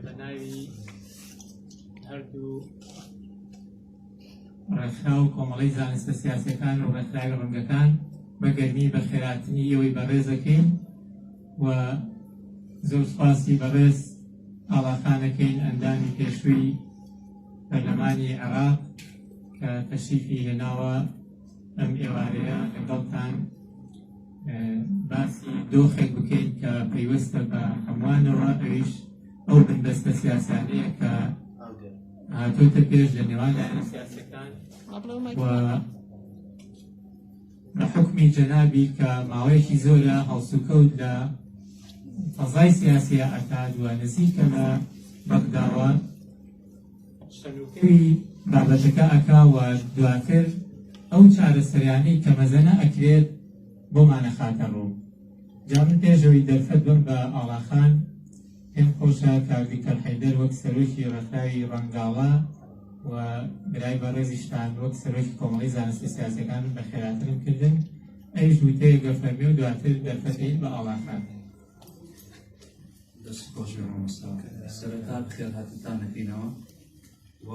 بە ناوی هەردوو ڕێکخرا و کۆمەڵی زانستە سیاسەکان و ڕێکخراوی ڕەنگەکان بە گەرمی بە خێراتنی ئەوەی بەڕێزەکەین و زۆر سپاسی بەڕێز ئاڵاخانەکەین ئەندامی پێشووی پەرلەمانی عێراق کە تەشریفی هێناوە ئەم ئێوارەیە لەگەڵتان باسی دۆخێک بکەین کە پەیوەستە بە هەمووانەوە ئەویش ئەو بندەستە سیاسانەیە کە هاتۆتە پێش لە نێوان لایەنە سیاسەکان و بە حکمی جەنابی کە ماوەیەکی زۆرە هەڵسوکەوت لە فەزای سیاسیە ئەکات و نزیکە لە بەغداوە سنووکەری بابەتەکە ئەکا و دواتر ئەو چارەسەریانەی کە مەزەنە ئەکرێت بۆمانە خاتە ڕوو جا من پێشەوەی دەرفەت بم بە ئاڵاخان پێم خۆشە کاک دکتۆر حەیدەر وەک سەرۆکی ڕێکخراوی ڕەنگاڵە و برای بەڕێزیشتان وەک سەرۆکی کۆمەڵی زانستە سیاسەکان بە خێراترم کردن ئەویش وتەیەگە فەرمی و دواتر دەرفەتەیل بە ئاڵاخان دەست خۆش بێ مامۆستا سەرەتا بخێر هاتتان دەکەینەوە و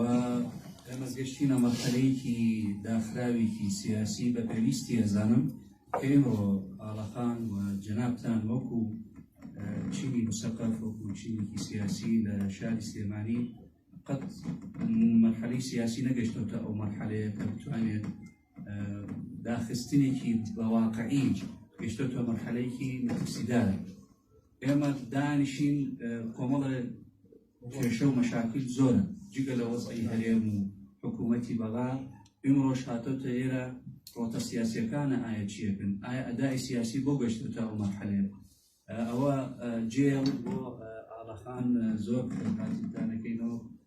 ئێمەز گەشتینە مەرحەلەیەکی داخراوێکی سیاسی بە پێویستی ئەزانم کە ئێمە ئاڵەخان و جەنابتان وەکو چینی مسەقەف وەکو چینێکی سیاسی لە شاری سلێمانی قەت مەرحەلەی سیاسی نەگەشتەوە ئەو مەرحەلەیە کە بتوانێت داخستنێکی بەواقعی گەشتەوە مەرحەلەیەکی مەترسیدار ئێمە دانیشین کۆمەڵە کێشە و مەشاکل زۆرن جگە لە وەزعی هەرێم و حکوومەتی بەغا ئمڕۆژ هاتۆتە ئێرە ڕۆتە سیاسەکانە ئایا چیەکن ئایا ئەدای سیاسی بۆ گەشتن تا ئەو مەحەلێ ئەوە جێڵ بۆ ئاڵەخان زۆر کاتدانەکەینەوە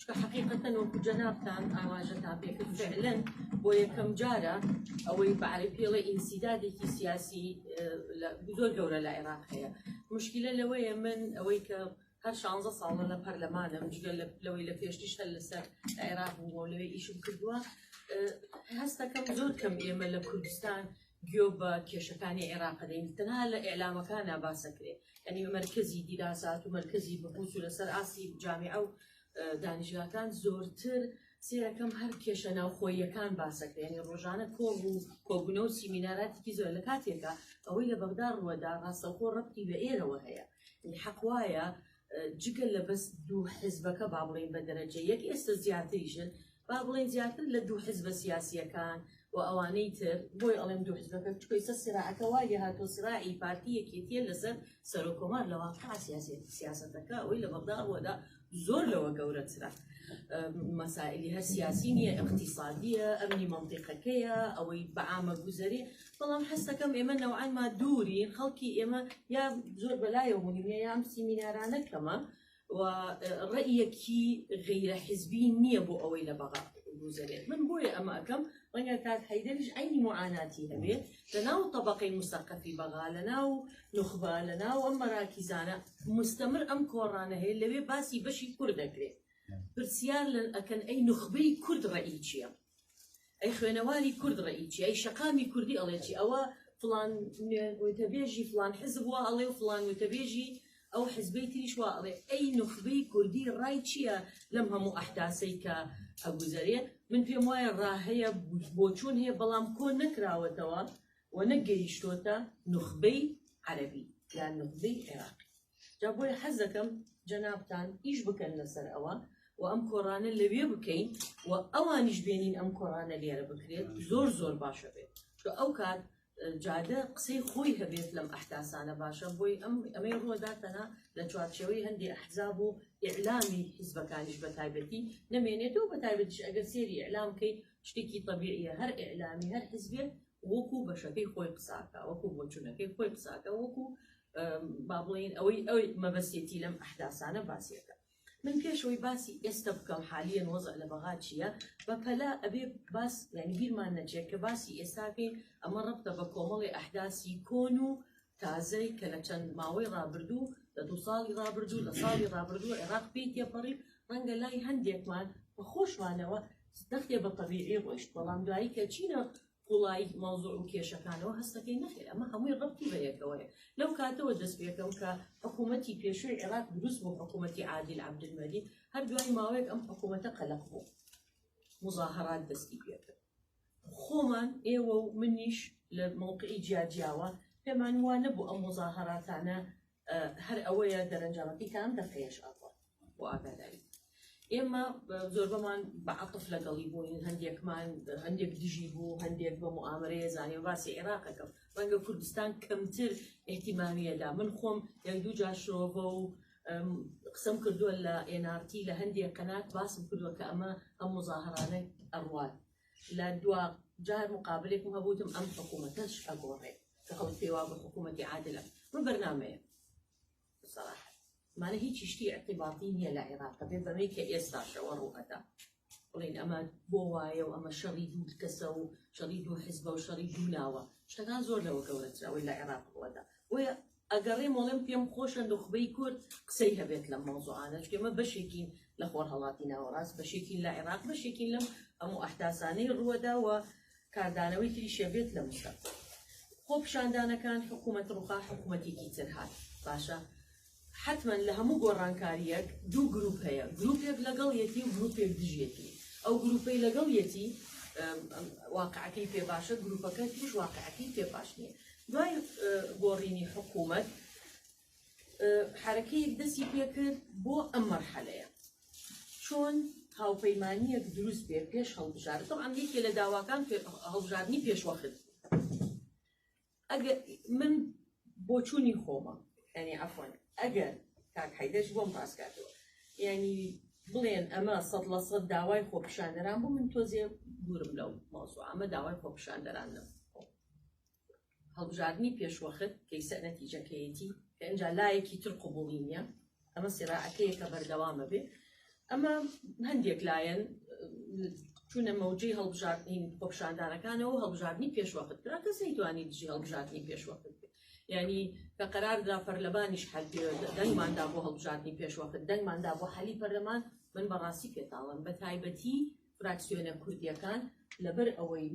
چکە حقیقەتەن وەکو جەنابتان ئاماژەتان پێکرد فعلەن بۆ یەکەم جارە ئەوەی بەعرە پێڵێ ئینسیدادێکی سیاسی زۆر گەورە لە عێراق هەیە مشکلە لەوەیە من ئەوەی کە هەر شانزە ساڵە لە پەرلەمانە مشگەل لەوەی لە پێشتیش هەر لەسەر عێراق بووەوە لەوێ ئیشم کردووە هەستەکەم زۆر کەم ئێمە لە کوردستان گوێ بە کێشەکانی عێراق دەین تەنها لە ئیعلامەکانا باس دەکرێ یانی مەرکەزی دیراسات و مەرکەزی بەهوس و لەسەر ئاستی جامیعە و دانیشگاکان زۆرتر سێەکەم هەر کێشە ناوخۆیەکان باسەکرێنی ڕۆژانە کۆڵ و کۆبوونە و سیمیناراتێکی زۆر لە کاتێکە ئەوەی لە بەغدا ڕوەدا ڕاستەخۆ ڕەتی بە ئێرەوە هەیە حەقواە جگە لە بەس دوو حزبەکە با بڵێن بە دەرەجە یەک ئێستا زیاتریشن با بڵێن زیاتر لە دوو حزبە سیاسیەکان و ئەوانەی تر بۆی ئەڵێم دوو حزبەکە چکۆیسە سراعەکە وای هاتۆ سراعی پارتی یەکێتیە لەسەر سەرۆکۆمار لە واقع سیاسی سیاستەکە ئەوەی لە بەغدا بۆدا زۆر لەوە گەورەترە مەسائلی هەر سیاسی نیە اقتصادیە ئەمنی منطقەکەیە ئەوەی بەعامە گوزەری بەڵام حەستەکەم ئێمە نەوعانما دوورین خەڵکی ئێمە یا زۆر بەلایەوە بوونی نیە یام سیمینارانە کەمە و ڕێیەکی غیرە حزبی نییە بۆ ئەوەی لە بەغا گوزەرێت من بۆیە ئەمە ئەەکەم ڕەنگە کات حیدەریش عینی معاناتی هەبێت لە ناو طبقەی مستەقەفی بەغا لە ناو نخبە لە ناو ئەم مەراکیزانە مستەمر ئەم کۆڕانە هەیە لەوێ باسی بەشی کورد دەکرێت پرسیار لە ئەکەن ئەی نخبەی کورد ڕێی چییە ئەی خوێنەواری کورد ڕێیچی ئەی شەقامی کوردی ئەڵێکی ئەوە فلان وتەبێژی فلان حزب وە ئەڵێ و فلان وتەبێژی ئەو حزبەی تریش وە ئەڵێ ئەی نخبەی کوردی ڕای چییە لەم هەموو ئەحتاسەی کە ئەگوزەرێ من پێم وایە ڕاهەیە بۆچوون هەیە بەڵام کۆ نەکراوەتەوە و نەگەیشتۆتە نخبەی عەربی یان نخبەی عێراقی جا بۆیە حەز دەکەم جەنابتان ئیش بکەن لەسەر ئەوە و ئەم کۆڕانە لەوێ بکەین و ئەوانیش بێنین ئەم کۆڕانە لێرە بکرێت زۆر زۆر باشە بێت چۆ ئەو کات جادە قسەی خۆی هەبێت لەم ئەحداسانە باشە بۆی ئەم ئەمەی ڕۆداتەنا لە چوارچەوەی هەندی ئەحزاب و ئیعلامی حیزبەکانیش بە تایبەتی نمێنێتەوە بە تایبەتیش ئەگەر سێری ئەلام بکەی شتێکی طببیعە هەر ئەلامی هەر حزبێت وەکو بەشەکەی خۆی قساکە وەکو بۆچونەکەی خۆی قساکە وەکو با بڵین ئەوەی ئەوی مەبەستێتی لەم ئەحداسانە باسیەکە من پێشەوەی باسی ئێستا بکەم حالیان وەزع لە بەغا چییە بە پەلا ئەبێ باس یعنی بیرمان نەچێت کە باسی ئێستاکەین ئەمە ڕبتە بە کۆمەڵی ئەحداسی کۆن و تازەی کە لە چەند ماوەی ڕابردوو لە دو ساڵی ڕابردوو لە ساڵی ڕابردوو عێراق پێی تێپەڕی ڕەنگە لای هەندێکمان بە خۆشمانەوە دەختێ بە تەبیعی ڕۆیشت بەڵام دوایی کە چینە قوڵایی مەوزوع و کێشەکانەوە هەست دەکەین نەخێر ئەمە هەمووی ڕەبتی بە یەکەوەیە لەو کاتەوە دەست پێ بکەم کە حکوومەتی پێشووی عێراق دروست بوو حکوومەتی عادیل عەبدولمەجید هەر دوای ماوەیەک ئەم حکوومەتە قەلەق بوو مزاهرات دەستی پێ کرد خۆمان ئێوە و منیش لە مووقعی جیاجیاوە پێمان وا نەبوو ئەم مزاهراتانە هەر ئەوەیە دەرەنجامەکەی تام دەقەیەش ئەڕوا بۆ ئاگاداری ئێمە زۆربەمان بە عقف لەگەڵی بووین هەندێکمان هەندێک دژی بوو هەندێک بە معامرەیە زانانی باسی عێراقەکەم ڕەنگە کوردستان کەمتر احتیمامیەدا من خۆم یەک دوو جاشرۆڤە و قسم کردووە لە NRT لە هەندێک قەنات باسم کردووە کە ئەمە ئەم مزاهرانە ئەڕوات لە دوا جار مقابلێکم هەبووتم ئەم حکوومەتەش ئەگۆڕێت کە خەڵک پێی وا بە حکوومەتی عادلە من بەرنمەیە سەراحە مانە هیچی شتی اعتباطی نییە لە عێراق بێ بەمەی کە ئێستاشەوە ڕووەدا بڵین ئەمە بۆ وایە و ئەمە شەڕی دوو کەسە و شەڕی دوو حزبە و شەڕی دوو ناوە شتەکان زۆر لەوە گەورەتراوەی لە عێراق ڕووەدا بۆیە ئەگەڕێم وەڵێم پێم خۆشە نوخبەی کورد قسەی هەبێت لەم مەوزوعانە چونکە ئێمە بەشێکین لە خۆرهەڵاتی ناوەڕاست بەشێکین لە عێراق بەشێکین لەم هەموو ئەحداسانەی ڕووەدا و کاردانەوەی تری شەبێت لە مشە خۆ پیشاندانەکان حکوومەت ڕوخا حکوومەتێکی تر هات باشە حتمما لە هەموو گۆڕانکاریەک دوو گروپ هەیە گروپێک لەگەڵ یەتی و گروپێک دژێتی ئەو گروپەی لەگەڵ یەتی واقعەکەی پێ باشە گروپەکە تریش واقعەکەی پێ باش نیە دوای گۆڕینی حکوومەت حرەکەیەک دەستی پێکرد بۆ ئەم مەرحەلەیە چۆن هاوپەیمانیەک دروست بێ پێش هەڵبژار تەعام یەکێ لە داواکان هەڵبژاردننی پێشوەخت ئەگەر من بۆچوونی خۆمە ئەنی ئەفۆن ئەگەر کاک حیدەش بۆم پاسکاتەوە یعنی بڵێن ئەمە سەد لە سەد داوای خۆپیشاندەران بوو من تۆزێ دوورم لەو مۆزوو ئەمە داوای خۆپیشاندەران نەبوو هەڵبژاردنی پێشوەخت کەیسەر نەتیجەکەیەتی کە ئەجا لایەکی تر قوبولی نییە ئەمە سێراعەکەیەکە بەردەوامە بێ ئەمە هەندێک لایەن چونە مەوجی هەڵبژاردنین خۆپشاندانەکانەوە هەڵبژاردننی پێشوەخت کرا کەس نەیتوانی دژی هەڵبژاردننی پێشوەخت ینی کە قەراردا پەرلەمانیش حل دەنگماندا بۆ هەڵبژاردننی پێشوەخت دەنگماندا بۆ حەلی پەرلەمان من بەڕاستی پێتاڵم بە تایبەتی فراکسیۆنە کوردیەکان لەبەر ئەوەی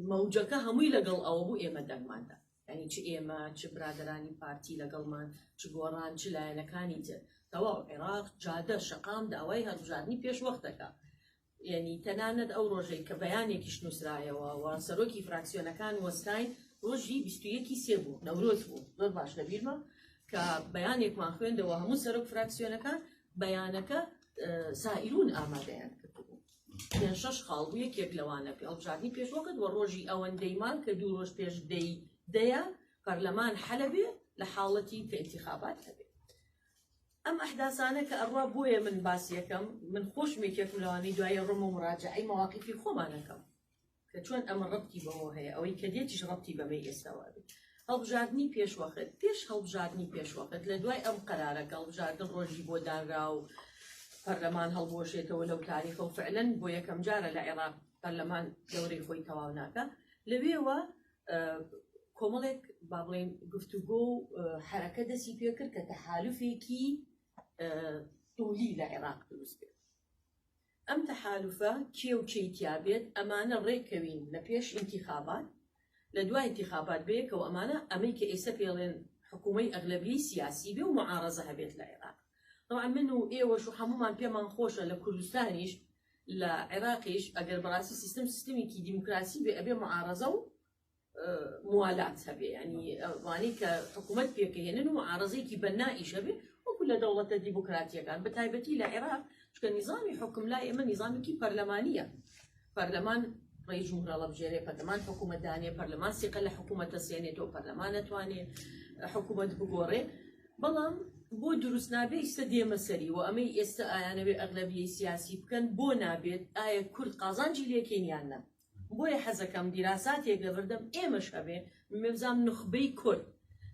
مەوجەکە هەمووی لەگەڵ ئەوە بوو ئێمە دەنگماندا ینی چ ئێمە چ برادرانی پارتی لەگەڵمان چ گۆڕان چ لایەنەکانی تر تەواو عێراق جادە شقام داوای هەڵبژاردننی پێش وەختەکە یعنی تەنانەت ئەو ڕۆژەی کە بەیانێکیش نووسرایەوە و سەرۆکی فراکسیۆنەکان وەستاین ڕۆژی بیستویەکی سێ بوو نەورۆز بوو زۆر باش لەبیرمە کە بەیانێکمان خوێندەوە هەموو سەرۆک فراکسیۆنەکان بەیانەکە سائیرون ئامادەیان کردبوو پێنج شەش خاڵ بوو یەکێک لەوانە پێ هەڵبژاردنی پێشوەکەت وە ڕۆژی ئەوەندەی مان کە دوو ڕۆژ پێش دەی دەیە پەرلەمان حەلەبێ لە حاڵەتی کە ئینتیخابات هەبێ ئەم ئەحداسانە کە ئەڕوا بۆیە من باس یەکەم من خۆشمێکێکم لەوانی دوای ڕۆمە مراجعی مەواقیفی خۆمانەکەم کە چۆن ئەمە ڕەبتی بەوە هەیە ئەوەی کە دێتیش ڕەبتی بەمەی ئێستاوە بێت هەڵبژاردنی پێشوەخت پێش هەڵبژاردنی پێشوەخت لە دوای ئەم قەرارەکە هەڵبژاردن ڕۆژی بۆ دانرا و پەرلەمان هەڵبوەشێتەوە لەو تاریخە و فعلەن بۆ یەکەم جارە لە عێراق پەرلەمان دەورەی خۆی تەواو ناکە لەوێوە کۆمەڵێک با بڵێن گفتوگۆ و حرەکە دەستی پێکرد کە تەحالفێکی تولی لە عێراق دروست بێت ئەم تەحالوفە کێ و کێی تیا بێت ئەمانە ڕێک کەوین لە پێش ئینتیخابات لە دوا ئینتیخابات بەیەکەوە ئەمانە ئەمەی کە ئێسە پێڵێن حکومەی ئەغلەبیەی سیاسی بێ و معارەزە هەبێت لە عێراق تەوعا من و ئێوەش و حەمومان پێمان خۆشە لە کوردستانیش لە عێراقیش ئەگەر بەڕاستی سیستم سیستمیکی دیموکراسی بێ ئەبێ معارەزە و موالات هەبێ ینی ئەوانی کە حکوومەت پێکەێنن و عاڕزێکی بەنائیش هەبێ وەکو لە دەوڵەتە دیموکراتیەکان بە تایبەتی لە عێراق چکە نیزانانی حکم لا ئێمە نیزانێکی پەرلەمانە پەرلەمان ڕێ جومرە ڵەبژێرێ پەرلەمان حکوومەتدانێ پەرلەمان سیقە لە حکوومەتە سێنێتەوە پەرلەمان نەتوانێ حکوومەت بگۆڕێ بەڵام بۆ دروست نابێ ئیستا دێمە سەری و ئەمەی ئێستا ئایانەوێ ئەغلبیە سیاسی بکەن بۆ نابێت ئایا کورد قازانجی لێکێنیان نە بۆیە حەزەکەم دیراساتێک لەبەردەم ئێمەش هەبێ مەبزام نوخبەی کورد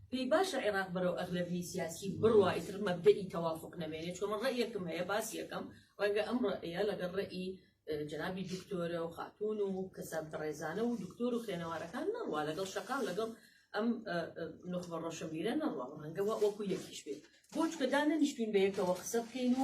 پێی باشە عێراق بەرەو ئەغلەبی سیاسی بڕوا ئیتر مەبدەئی تەوافق نەمێنێ چۆن من ڕێیەکم هەیە باسیەکەم ڕەنگە ئەم ڕێە لەگەڵ ڕێی جنابی دکتۆرە و خاتون و کەسە بەڕێزانە و دکتۆر و خوێنەوارەکان نەڕوا لەگەڵ شەقام لەگەڵ ئەم نخبە ڕۆشنبیرە نەڕوا ڕەنگەوە وەکو یەکیش بێت بۆچکە دانەنیشتین بە یەکەوە قسە بکەین و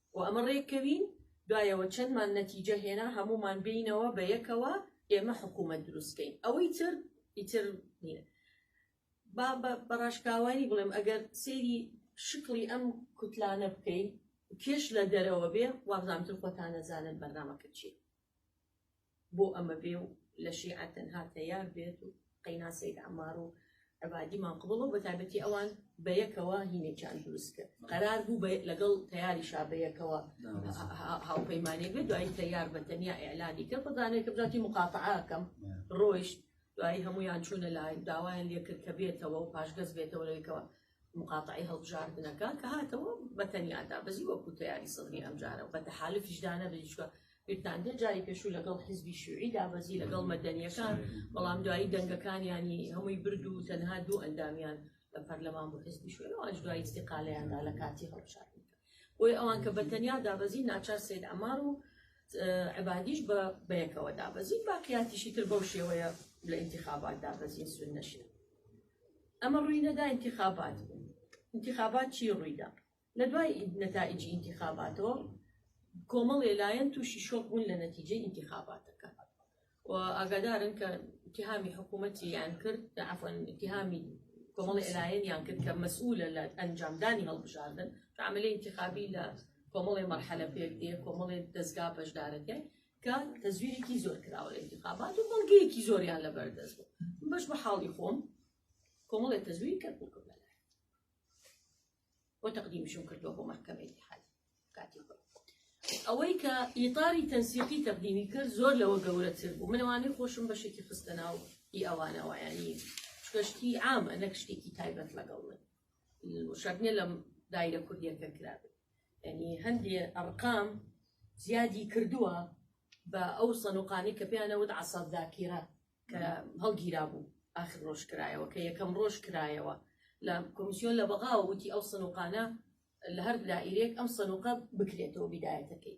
و ئەمە ڕێککەوین دوایەوە چەندمان نەتیجە هێنا هەموومان بینەوە بە یەکەوە ئێمە حکوومەت دروستکەین ئەوەی تر ئیتر نیە با بە ڕاشکاوانی بڵێم ئەگەر سەیری شکڵی ئەم کوتلانە بکەین کێش لە دەرەوە بێ وابزانتر خۆتان نەزانن بەرنامەکە چیە بۆ ئەمە بێ و لە شیعە تەنها تەیار بێت و قەینا سەید عەمار و عەبادی ماقبڵ و بەتابەتی ئەوان بە یەکەوە هینێکیان دروست کرد قەرار بوو بە لەگەڵ تەیاری شابەیەکەوە هاوپەیمانێک بێت دوایی تەیار بە تەنیا ئیعلانی کرد بەدانێک کە بزاتی مقاتعاکەم ڕۆیشت دوایی هەمویان چوونە لای داوایان لێکرد کە بێتەوە و پاشگەز بێتەوە لەوێکەوە موقاتەعەی هەڵبژاردنەکە کە هاتەوە بە تەنیا دابەزی وەکو تەیاری سەدری ئەمجارە و بە تەحالفیشدا نەبێت چوە بیرتان دێت جاری پێشوو لەگەڵ حزبی شوعی دابەزی لەگەڵ مەدەنیەکان بەڵام دوایی دەنگەکانیانی هەمووی برد و تەنها دوو ئەندامیان لە پەرلەمان بۆ حزبی شوێن ئەوانش دوایی استقالەیاندا لە کاتی هەڵبژاردن بۆی ئەوان کە بە تەنیا دابەزی ناچار سید ئەمار و عبادیش بە بەیەکەوە دابەزین باقیاتیشی تر بەو شێوەیە لە انتخابات دابەزین سون نەشێت ئەمە ڕوی نەدا ئینتیخابات بوو ئینتیخابات چی ڕویدا لە دوای نەتائیجی ئینتیخاباتەوە کۆمەڵێ لایەن تووشی شۆک بوون لە نەتیجەی ئینتیخاباتەکە و ئاگادارن کە اتهامی حکوومەتی یان کرد عفن اتهامی کۆمەڵی لایەن یان کرد کە مەسئولە لە ئەنجامدانی هەڵبژاردن عملی انتخابی لە کۆمەڵی مەرحەلە پێک دێ کۆمەڵی دەستگا بەشدارەکە کە تەزویرێکی زۆر کراوە لە انتخابات و بەڵگەیەکی زۆریان لە بەردەست بوو بەش بە حاڵی خۆم کۆمەڵێک تەزویر کەرکک بە لای بۆ تەقدیمشم کردووە بۆ مەحکەمە اتحاد کاتی خۆم ئەوەی کە ئیتاری تەنسیقی تەقدیمی کرد زۆر لەوە گەورەتر بوو منەوانەی خۆشم بەشێکی خستە ناو ئی ئەوانەوەیانی شکشتی ئامە نەک شتێکی تایبەت لەگەڵ من شەرنیە لەم دایرە کوردیەکە کرابێت یانی هەندێ ئەڕقام زیادی کردووە بە ئەو سەنوقانەی کە پێیان ئەوت عەسا زاکیرە کە هەڵگیرا بوو ئاخر ڕۆژ کرایەوە کە یەکەم ڕۆژ کرایەوە لە کۆمیسیۆن لە بەغاوە وتی ئەو سەنوقانە لە هەر دائیرەیەک ئەم سەنوقە بکرێتەوە بیدایەتەکەی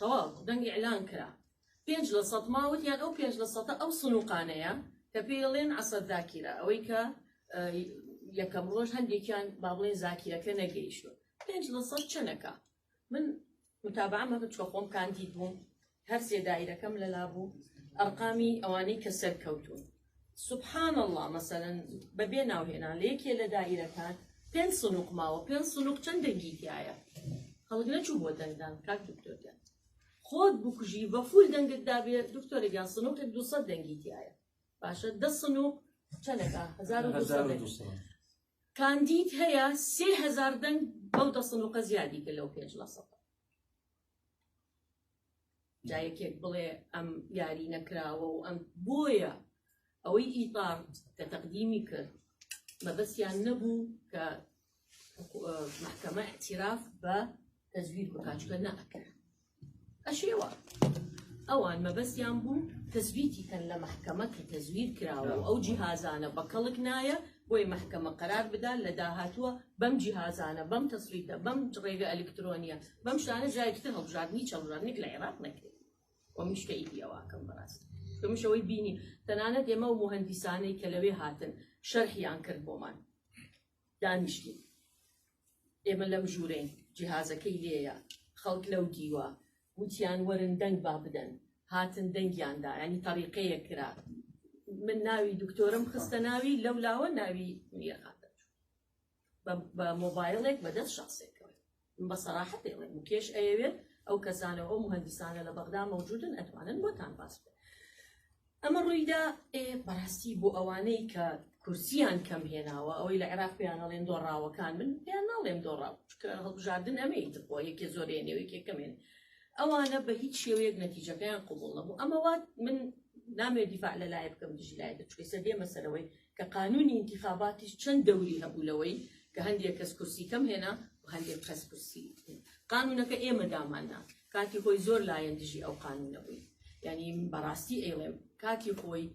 تەواو دەنگ ئیعلان کرا پێنج لە سەد ما وتیان ئەو پێنج لە سەدە ئەو سنووقانەیە کە پێی ئەڵێن عەسەد زاکیرە ئەوەی کە یەکەم ڕۆژ هەندێکیان با بڵێن زاکیرەکە نەگەیشتوە پێنج لە سەد چەنەکە من متابعمە چوە خۆم کاندید بووم هەر سێ دایرەکەم لەلا بوو ئەرقامی ئەوانەی کە سەرکەوتوون سبحان اللە مەسەلەن بەبێ ناوهێنان لە یەکێ لە دائیرەکان پێنج سنووق ماوە پێنج سنووق چەند دەنگی تایە خەڵک نەچوو بۆ دەنگدان کاک دکتۆرگیان خۆت بکوژی بە فول دەنگت دابێ دکتۆرگیان سنووقێک دو سەد دەنگی تایە باشە دە سنووق چەندەکە هزار و دوو سەد دەنگ. کاندید هەیە سێ هزار دەنگ بەو دە سنووقە زیادی کە لەو پێنج لە سەد جا یەکێک بڵێ ئەم یاری نەکراوە و ئەم بۆیە ئەوەی ئیتار کە تەقدیمی کرد مەبەستیان نەبوو کە محکمە اعتراف بە تەزویر بکچکە نەکرد ئەشێوە ئەوان مەبەستیان بوو تەزویتی کەن لە محکمە کە تەزویر کراوە ئەو جیهازانە بە کەڵک نایە بۆی مەحکەمە قەرار بدا لە داهاتووە بەم جیهازانە، بەم تەسویتە، بەم ڕێگە ئەلیکترۆنیە، بەم شتانە جارێکی تر هەڵبژاردنی چەوژاردنێک لە عێراق نەکرێت و منیش کەیفی ئەوە ئەکەم بەڕاستی. چون منیش ئەوەی بینیم تەنانەت ئێمە و موهەندیسانەی کە لەوێ هاتن شەرحیان کرد بۆمان دانیشتین ئێمە لەم ژوورەین جیهازەکەی لێیە خەڵک لەو دیوە وتیان وەرن دەنگ با بدەن هاتن دەنگیان دا ینی تەریقەیە کرا من ناوی دکتۆرم خستە ناوی لەو لاوە ناوی میرهاتە بە مۆبایلێک بەدەست شخصێکەوە بە سەراحەت دەڵێن کێش ئەیەوێت ئەو کەسانەوە ئەو مهندسانە لە بەغدا مەوجودن ئەتوانن بۆتان باس بکەن ئەمە ڕوویدا ئێ بەڕاستی بۆ ئەوانەی کە کورسیان کەم هێناوە ئەوەی لە عێراق پێیان هەڵێن دۆڕاوەکان من پێیان ناڵێم دۆڕا چکە هەڵبژاردن ئەمەیت بۆ یەکێ زۆرێ نێوێکێ کەمێن ئەوانە بە هیچ شێوەیەک نەتیجەکەیان قوبوڵ نەبوو ئەمەوات من نامێ دیفاع لە لایە بکەم دژی لایە چکەسە دێمە سەرەوەی کە قانونی ئینتیخاباتیش چەند دەوری هەبوو لەوەی کە هەندێک کەس کورسی کەم هێنا و هەندێک کەس کورسی قانونەکە ئێمە داماننا کاتی خۆی زۆر لایەن دژی ئەو قانونە بووی یعنی بەڕاستی ئەیڵێم کاتی خۆی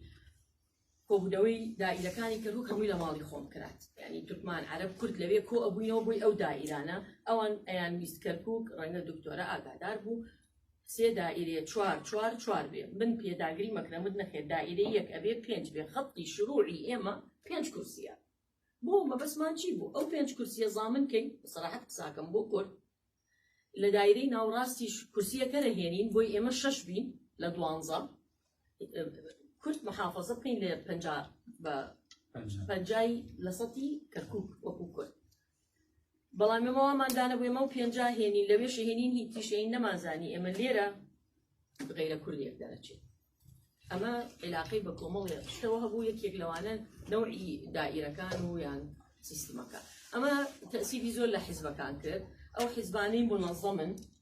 کۆبوونەوەی دایلەکانی کەرکک هەمووی لە ماڵی خۆم کرات ینی تورکمان عرب کورد لەوێ کۆ ئەبووینەوە بووی ئەو دایرانە ئەوان ئەیان ویست کەرکک ڕەنگە دکتۆرە ئاگادار بوو سێ دائیرەیە چوار چوار چوار بێ من پێداگری مەکرەمت نەخێر دائیرەی یەک ئەبێ پێنج بێ خەتی شروعی ئێمە پێنج کورسیە بۆ مەبەسمان چی بوو ئەو پێنج کورسیە زامن کەین سەراحەت قساکەم بۆ کورد لە دایرەی ناوڕاستی کورسیەکەرە هێنین بۆی ئێمە شەش بین لە دوانزە کورد محافظە بکەین لە پنج بە پنجای لە سەتی کەرکک وەکو کورد بەڵام ئێمە وامان دانەبوو ئێمە و پێنجا هێنین لەوێش هێنین هی تیشەین نەمانزانی ئێمە لێرە غیرە کوردێک دەرەچێت ئەمە عێلاقەی بە کۆمەڵێ شتەوە هەبوو یەکێک لەوانە نەوعی دائیرەکان و یان سیستمەکە ئەمە تەسیبی زۆر لە حیزبەکان کرد ئەو حیزبانەی منەظەمن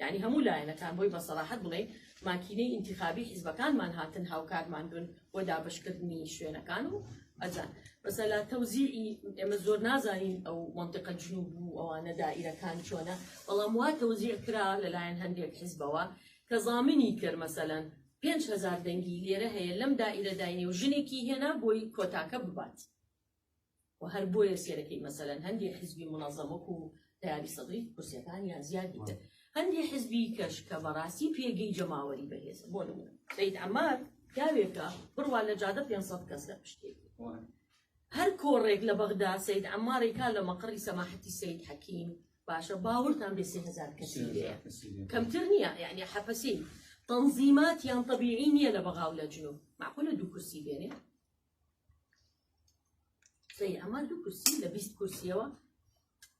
یانی هەموو لایەنەکان بۆی بە سەراحەت بڵێین ماکینەی ئینتیخابی حیزبەکانمان هاتن هاوکارمان بن بۆ دابەشکردنی شوێنەکان و ئەزان بەسە لە تەوزیعی ئێمە زۆر نازانین ئەو منطقە جنوب و ئەوانە دائیرەکان چۆنە بەڵام وا تەوزیع کرا لەلایەن هەندێک حیزبەوە کە زامنی کرد مەسەەن 5هزار دەنگی لێرە هەیە لەم دائیرە داینێ و ژنێکی هێنا بۆی کۆتاکە ببات. و هەر بۆیە سێرەکەی مەسەلەن هەندێ حیزبی مونەزەم وەکو تەیاری سەدری کورسیەکانیان زیاد بیتە هەندێ حیزبی کەش کە بەڕاستی پێگەی جەماوەری بەهێزە بۆ نمونە سەید عەمار پیاوێکە بڕوا لە جادە 500 کەس لە پشتێکی هەر کۆڕێک لە بەغدا سید عماری کا لە مەقڕی سەماحەتی سید حەکیم باشە باورتان بێ سهزار کەسی لێە کەمتر نییە یعنی حەپەسی تەنزیمات یان طببیعی نییە لە بەغااو لە جنوب معقولە دوو کورسی بێنێ قسەی ئەمە دوو کورسی لە بیست کورسیەوە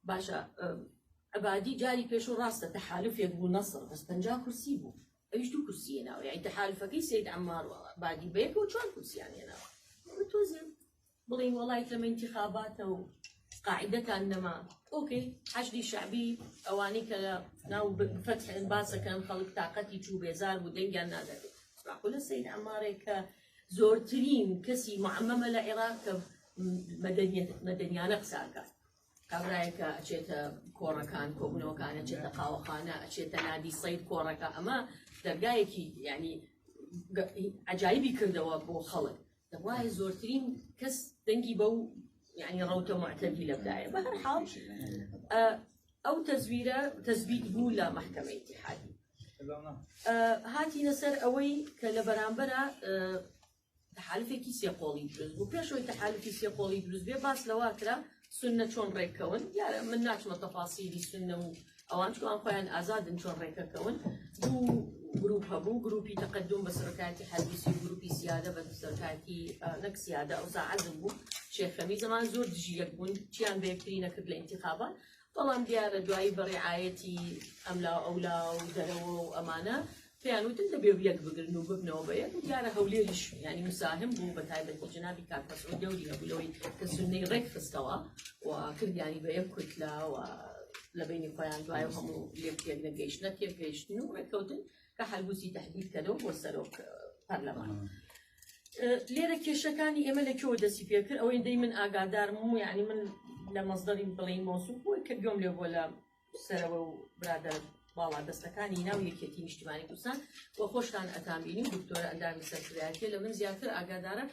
باشە عبادی جاری پێش و ڕاستە تەحالفێک بوو نەسڕ بەس پەنجا کورسی بوو ئەویش دوو کورسیە ناوە یعنی تەحالفەکەی سید عمار و عبادی بەیەک و چوار کورسیان هێناوە تۆزێ بڵین وڵای کەمە انتخاباتە و قاعدەتان نەما ئۆکەی حەشدی شعبی ئەوانی کە لە ناو فەتحێن باسەکەن خەڵک تااقەتی چوو بێزار بوو دەنگیان نادەێت ڕاقولە سید عمارێک کە زۆرترین کەسی معمەمە لە عێراق کە مەدەنیانە قساکات کابراایە کە ئەچێتە کۆڕەکان کۆبنەوەکان ئەچێتە قاوەخانە ئەچێتە نادی سەید کۆڕەکە ئەمە دەرگایەکی ینی عجایبی کردەوە بۆ خەڵک دەوای زۆرترین کەس دەنگی بەو ینی ڕوتە معتەدی لەدایە بە هەر حاڵ ئەو تەزویرە تەزبیت بوو لە محکمە اتحادی هاتینە سەر ئەوەی کە لە بەرامبەرە تحالفێکی سێقۆڵی دروست بوو پێشەوەی تحالفی سێقۆڵی دروست بێ باس لەواکرا سنە چۆن ڕێککەون یارە من ناچمە تەفاسیری سنە و ئەوان چوان خۆیان ئازادن چۆن ڕێکەکەون دوو گروپ هەبوو گروپی تەقدم بە سەرکاتی حەدیسی گروپی سیادە بە سەرکاتی نەک سیادە ئەو ساعەزم بوو شێخەمی زمان زۆر دژی یەک بوون چیان بەکتری نەکرد لە انتخابان بەڵام دیارە دوایی بە ڕیعایەتی ئەملا و ئەولا و دەرەوە و ئەمانە پێیان وتن دەبێ و یەک بگرن و ببنەوە بە یەک و دیارە هەولێریش یعنی مساهم بوو بە تایبەتی جنابی کاک مەسعود دەوری هەبوو لەوەی کە سنەی ڕێک خستەوە و کردیانی بە یەک کوتلە و لە بینی خۆیان دوای و هەموو لێک تێک نەگەیشتنە تێک گەیشتن و ڕێککەوتن کە حەلبوسی تهدید کەنەوە بۆ سەرۆک پەرلەمان لێرە کێشەکانی ئێمە لە کێوە دەسی پێکرد ئەوەی دەی من ئاگادارم و یعنی من لە مەزدەری بڵین مۆسوم بۆی کە گوێم لێ بۆ لە سەرەوە و برادە باڵا دەستەکانی ناو یەکێتی نیشتمانی کوردستان و خۆشتان ئەتامبینی دکتۆرە ئەندامی سەرکرایەتی لە من زیاتر ئاگادارە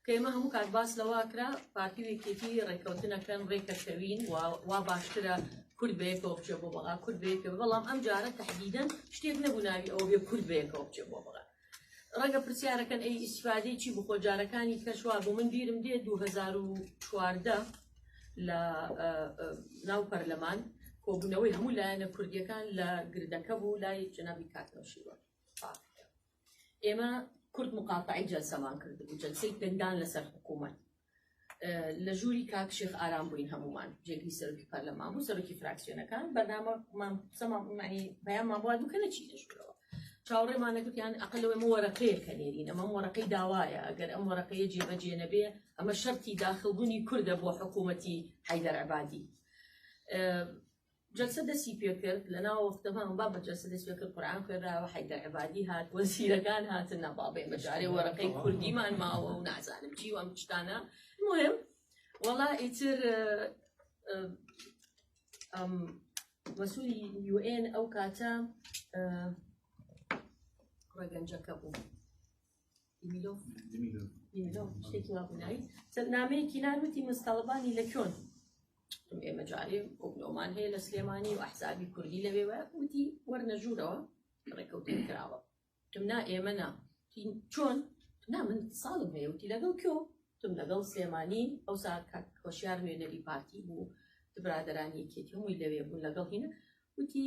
کە ئێمە هەموو کات باس لەوە کرا پارتی و یەکێتی ڕێککەوتنەکەن ڕێکەکەوین و وا باشترە کورد بەیەکەوە بچێ بۆ بەغا کورد بەیەکەوە بەڵام ئەم جارە تهدیدەن شتێک نەبوو ناوی ئەو بێ کورد بەیەکەوە بچێ بۆ بەغا ڕەنگە پرسیارەکەن ئەی ئیسفادەی چی بخۆ جارەکانی کەشوا بۆ من بیرم دێ 2014 لە ناو پەرلەمان کۆبوونەوەی هەموو لایەنە کوردیەکان لە گردەکە بوو لای جنابی کاکنەوشیوە ئێمە کورد مقاتعی جەلسەمان کردبوو جەلسەی پندان لەسەر حکوومەت لە ژووری کاک شێخ ئارام بووین هەمومان جێگری سەرکی پەرلەمان بوو سەرکی فراکسیۆنەکان بەنامەمان سەمانی بەیانمان بووە دوکە نەچی دەشکەوە چاوەڕێمانە گوتیان ئەقل لەوەی مە وەرەقەیە کە نێرین ئەمە وەرەقەی داوایە ئەگەر ئەم وەرەقەیە جێبەجێ نەبێ ئەمە شەرتی داخلبوونی کوردە بۆ حکوومەتی حیدەر عبادی جەلسە دەستی پێکرد لە ناوەختە بەم با بە جەلسە دەست پێکرد قورآن خوێنراوە حەیدەر عبادی هات وەزیرەکان هاتن ناباڵێ مەجارێ وەرەقەی کوردیمان ماوە و نازانم چی وام شتانە مهم وەڵا ئیتر مەسوولی یوئێن ئەو کاتە ڕگەنجەکە بوو. نامەیەکی ناروتی مستەڵبانی لە کۆن ئێمە جارێ ئۆبلۆمان هەیە لە سلێمانی و ئەحسابی کوردی لەوێوە وتی وەرنەژوورەوە ڕێکەوتن کراوە تم نا ئێمە نا چۆن نا من ساڵم هەیە وتی لەگەڵ کۆ تم لەگەڵ سلێمانی ئەو ساعت کاک هۆشیار نوێنەری پارتی بوو برادرانی یەکێتی هەمووی لەوێ بوون لەگەڵ هینە وتی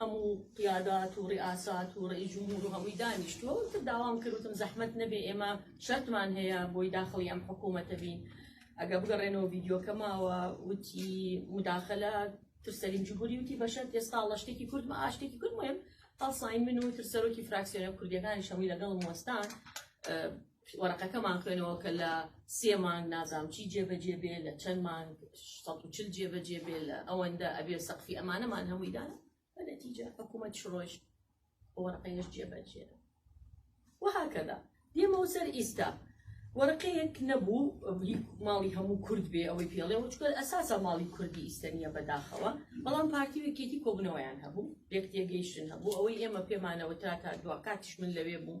هەموو قیادات و ڕیئاسات و ڕەئیس جمهور و هەمووی دانیشتووە و تر داوام کرد وتم زەحمەت نەبێ ئێمە شەرتمان هەیە بۆی داخڵی ئەم حکوومەتە بین ئەگە بگەڕێنەوە ڤیددیوکە ماوە وتی مداخلە تر سەریم جمهوری وتی بەشەر ئێستا لە شتێکی کورد مە ئاشتێکی کورد مهم هەڵساین من و تر سەرۆکی فراکسیۆنە کوردیەکانی شەمی لەگەڵ وەستان وەرەقەکەمان خوێنەوە کە لە سێ مانگ نازام چی جێبەجێ بێ لە چەند مانگ چل جێبەجێ بێ لە ئەوەندە ئەبێ سەقفی ئەمانەمان هەموویدان بە نەتیجە حکوومەت شڕۆژ وەرەقەیش جێبەجێ وهکەدا دێمەوە سەر ئیستا وەرەقەیەک نەبوو ماڵی هەموو کورد بێ ئەوەی پێڵێ وچکەل ئەساسە ماڵی کوردی ئیسەنیە بەداخەوە بەڵام پارتی وێکێتی کۆبنەوەیان هەبوو یەک تێگەیشتن هەبوو ئەوەی ئێمە پێمانەوە تا تا دوا کاتیش من لەوێ بووم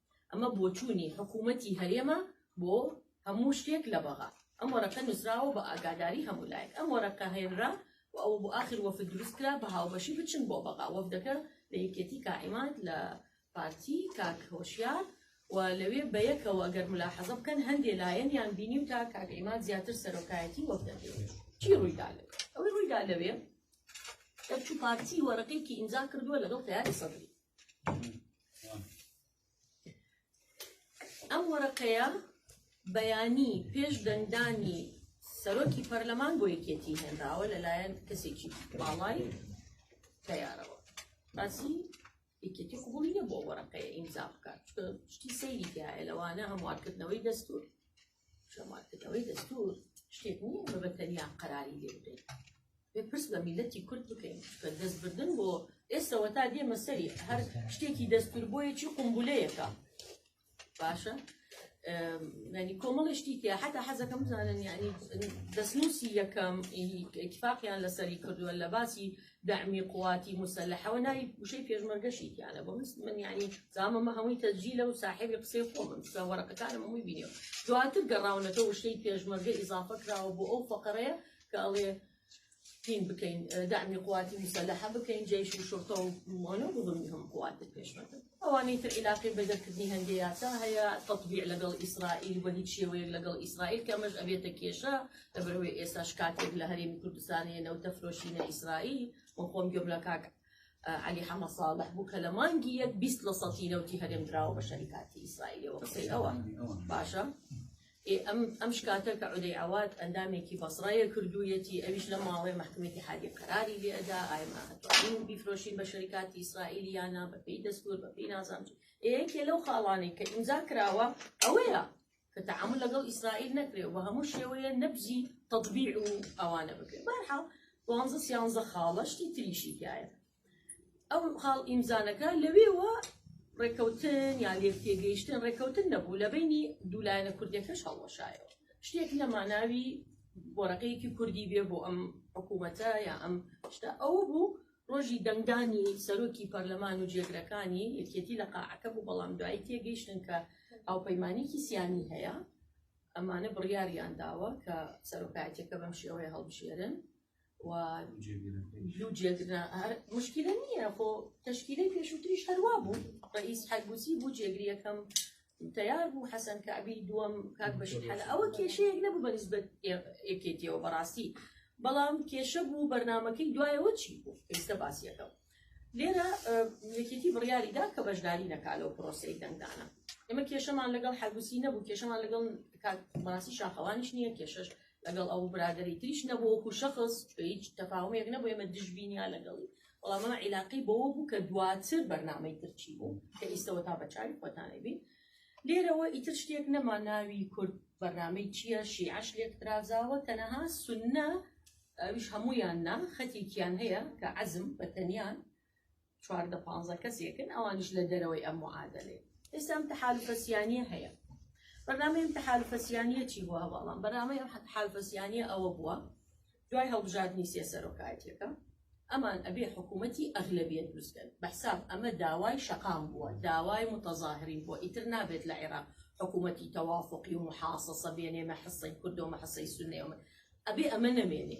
ئەمە بۆچوونی حکوومەتی هەرێمە بۆ هەموو شتێک لە بەغا ئەم وەرەقە نووسراوە بە ئاگاداری هەموو لایەک ئەم وەرەقە هێنرا و ئەوە بۆ ئاخر وەفد دروست کرا بە هاوبەشی بچن بۆ بەغا وەفدەکە لە یەکێتی کائیمات لە پارتی کاک هۆشیار و لەوێ بە یەکەوە گەر ملاحەزە بکەن هەندێ لایەنیان بینی و تا کاک ئیمات زیاتر سەرۆکایەتی وەفدەکەی چی ڕوویدا لەوێ ئەوەی ڕوویدا لەوێ دەرچوو پارتی وەرەقێکی ئیمزا کردووە لەگەڵ تەیاری سەدری ئەم وەرەقەیە بەیانی پێش دەنگدانی سەرۆکی پەرلەمان بۆ یەکێتی هێنراوە لەلایەن کەسێکی باڵای تەیارەوە باسی یەکێتی قوبڵی نە بۆ وەرەقەیە ئیمزا بکات شتی سەیری تایە لەوانە هەموارکردنەوەی دەستور جەماعەتەوەی دەستور شتێک نییە بە بەتەنیا قەراری لێ بدەین بێ پرس بە میلەتی کورد بکەین کە دەستبردن بۆ ئێستەوە تا دێمە سەری هەر شتێکی دەستور بۆیەکی قمبولەیەەکە باشە ینی کۆمەڵی شتی تیا حتا حەزەکەم بزانن ینی دەستنووسی یەکەم کفاقیان لەسەری کردووە لە باسی دەعمی قواتی موسەلەحەوە ناوی وشەی پێشمەرگەشی تیانە بۆ من یعنی زامەمە هەمووی تەجیلە و ساحێبی قسەی خۆمم سە وەرەقەکانم هەمووی بینێ دواتر گەڕاونەتە وشەی پێشمەرگە ئیزافە کراوە بۆ ئەو فەقەرەیە کە ئەڵێ پین بکەین دەعمی قواتی موسەلەحە بکەین جێش و شرتە و مۆنە بڵمی هەم قوات پێشمەرگە ئەوانەی تر عیلاقەی بە دەرکردنی هەندێ یاسا هەیە تەتبیع لەگەڵ ئیسرائیل بە هیچ شێوەیەک لەگەڵ ئیسرائیل کە ئەمەش ئەبێتە کێشە لەبەرەوەی ئێستاش کاتێک لە هەرێمی کوردستان هەیە نەوتە فرۆشینە ئیسرائیل و خۆم گوێم لە کاک علی حەمە ساڵح بوو کە لە مانگی یەک بیست لە سەتی نەوتی هەرێم دراوە بە شەریکاتی ئیسرائیلەوە قسەی ئەوە باشە ئێ ئەم ئەم شکاتە کە عودەی عەواد ئەندامێکی بەسڕەیە کردوویەتی ئەویش لە ماڵێ مەحکمە ئیتیحادی قەراری لێ ئەدا ئای ما ئەتوانین بیفرۆشین بە شەریکاتی ئیسرائیل یانا بەپێی دەستور بەپێی نازانم چی. ئێ یەکێ لەو خاڵانەی کە ئیمزا کراوە ئەوەیە کە تەعامل لەگەڵ ئیسرائیل نەکرێ و هەموو شێوەیە نەبزی تەطبیع و ئەوانە بکرێ بەرحاڵ دوانزە سیانزە خاڵە شتی تریشی تایە ئەو خاڵ ئیمزانەکە لەوێوە ڕێکەوتن یا لێک تێگەیشتن ڕێکەوتن نەبوو لە بینی دوولایەنە کوردەکەش هەڵوەشایەوە شتێک لە ماناوی بۆرەقەیەکی کوردی بێ بۆ ئەم حکوومەتە یا ئەم شتە ئەوە بوو ڕۆژی دەنگدانی سەرۆکی پەرلەمان و جێگرەکانی یەکێتی لە قاعەکە بوو بەڵام دوایی تێگەیشتن کە هاوپەیمانێکی سیانی هەیە ئەمانە بڕیاریان داوە کە سەرۆکایەتەکە بەم شێوەیە هەڵبژێرن و لو جێگرنا هەر مشکلە نییە خۆ تشکیلەی پێشووتریش هەروا بوو ڕئیس حەگوزی بوو جێگری یەکەم تیار بوو حەسەن کابی دووەم کاک بەشت حەل ئەوە کێشەیەک نەبوو بە نسبەت یەکێتیەوە بەڕاستی بەڵام کێشە بوو بەرنمەکەی دوایەوە چی بوو ئێستا باسیەکەم لێرە یەکێتی بڕیاریدا کە بەشداری نەکا لەو پرۆسی دەنگدانە ئێمە کێشەمان لەگەڵ حەگوسی نەبوو کێشەمان لەگەڵ کاک ماسی شاخەوانیش نییە کێشەش لەگەڵ ئەو برادری تریش نەبوو وەکو شخص بە هیچ تەفاومێک نەبوو ئێمە دژبینیا لەگەڵی وەڵام ئەمە عیلاقی بەوە بوو کە دواتر بەرنمەی ترچی بوو کە ئیستەوە تا بەچوی خۆتانەی بین لێرەوە ئیتر شتێک نەما ناوی کورد بەرنمەی چییە شیعش لێک ترازاوە تەنەها سنە ئەوش هەمویان نا خەتێکیان هەیە کە عزم بە تەنیان چواردە پانزە کەسێکن ئەوانش لە دەرەوەی ئەم معادلێ ئێستا ئەم تەحالفەسیانە هەیە بەنامەی ئەم تەحالفەسیانە چی بووە بەڵام بەنامەی ئەم حالفەسیانە ئەوە بووە دوای هەڵبژاردنی سێ سەرۆکایەتەکە ئەمان ئەبێ حکوومەتی ئەغلبیت بزگەن بەحساب ئەمە داوای شەقام بووە داوای متەظاهرین بۆ ئیتر نابێت لە عێراق حکوومەتی تەوافقی و محاصصە بێنێمە حسەی کردۆمە حسەی سنێومە ئەبێ ئەمە نەمێنێ